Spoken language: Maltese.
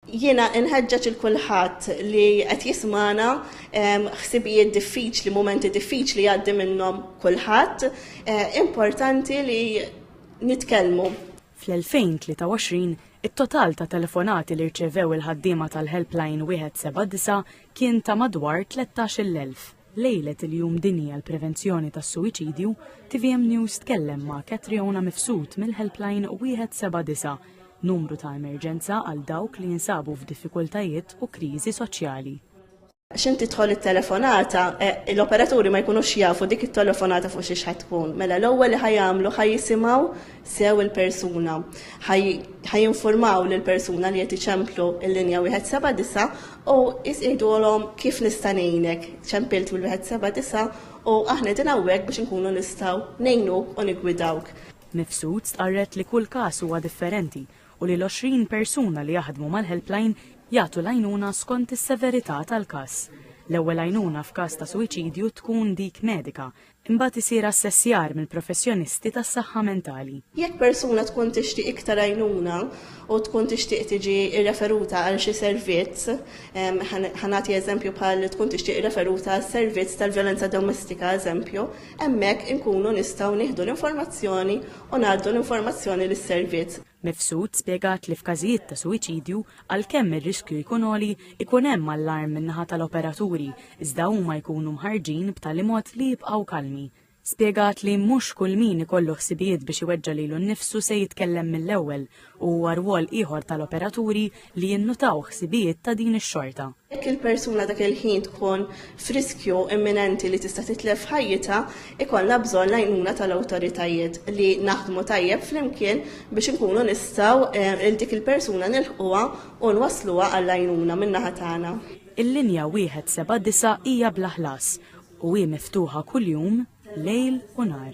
Jiena inħeġġeġ il kulħadd li qed jismana ħsibijiet diffiċli, mumenti diffiċli jgħaddi minnhom kulħadd, eh, importanti li nitkellmu. Fl-2023, it-total ta' telefonati li rċevew il-ħaddiema tal-helpline 179 kien ta' madwar 13,000. Lejlet il-Jum Dinji għall-Prevenzjoni tas-Suwiċidju, tvm News tkellem ma' Catriona Mifsud mill-Helpline 179, numru ta' emerġenza għal dawk li jinsabu f'diffikultajiet u kriżi soċjali. X'int tidħol it-telefonata, l-operaturi ma jkunux jafu dik it-telefonata fuq xiex ħa tkun. Mela l-ewwel li ħa jagħmlu ħa jisimgħu sew il-persuna. Ħa jinfurmaw lill-persuna li qed iċemplu l-linja 179 U Jis jgħidulhom, Kif nista' ngħinek? Ċempilt mill-wieħed seba' disa', u aħna qegħdin hawnhekk biex inkunu nistgħu ngħinuk u niggwidawk. Mifsud stqarret li kull każ huwa differenti u li l-għoxrin persuna li jaħdmu mal-helpline jagħtu l-għajnuna skont is-severità tal-każ. L-ewwel għajnuna f'każ ta' suwiċidju tkun dik medika, Imbagħad isir assessjar mill-professjonisti tas-saħħa mentali. Jekk persuna tkun tixtieq iktar għajnuna u tkun tixtieq tiġi rreferuta għal xi servizz, ħa nagħti eżempju bħal tkun tixtieq irreferuta għas-servizz tal-vjolenza domestika eżempju, hemmhekk inkunu nistgħu nieħdu l-informazzjoni u ngħaddu l-informazzjoni lis-servizz. Mifsud spjegat li f'każijiet ta' suwiċidju, għalkemm ir-riskju jkun għoli, ikun hemm allarm min-naħa tal-operaturi iżda huma jkunu mħarrġin b'tali mod li jibqgħu kalmi. Spjegat li mhux kull min ikollu ħsibijiet biex iweġġa' lilu nnifsu se jitkellem mill-ewwel u huwa rwol ieħor tal-operaturi li jinnutaw ħsibijiet ta' din ix-xorta. Jekk il-persuna dak il-ħin tkun f'riskju imminenti li tista' titlef ħajjitha, ikollna bżonn l-għajnuna tal-awtoritajiet li naħdmu tajjeb flimkien biex inkunu nistgħu lil dik il-persuna nilħquha u nwassluha għall-għajnuna min-naħa tagħna. Il-linja 179 hija bla ħlas u hi miftuħa kuljum lejl u nhar.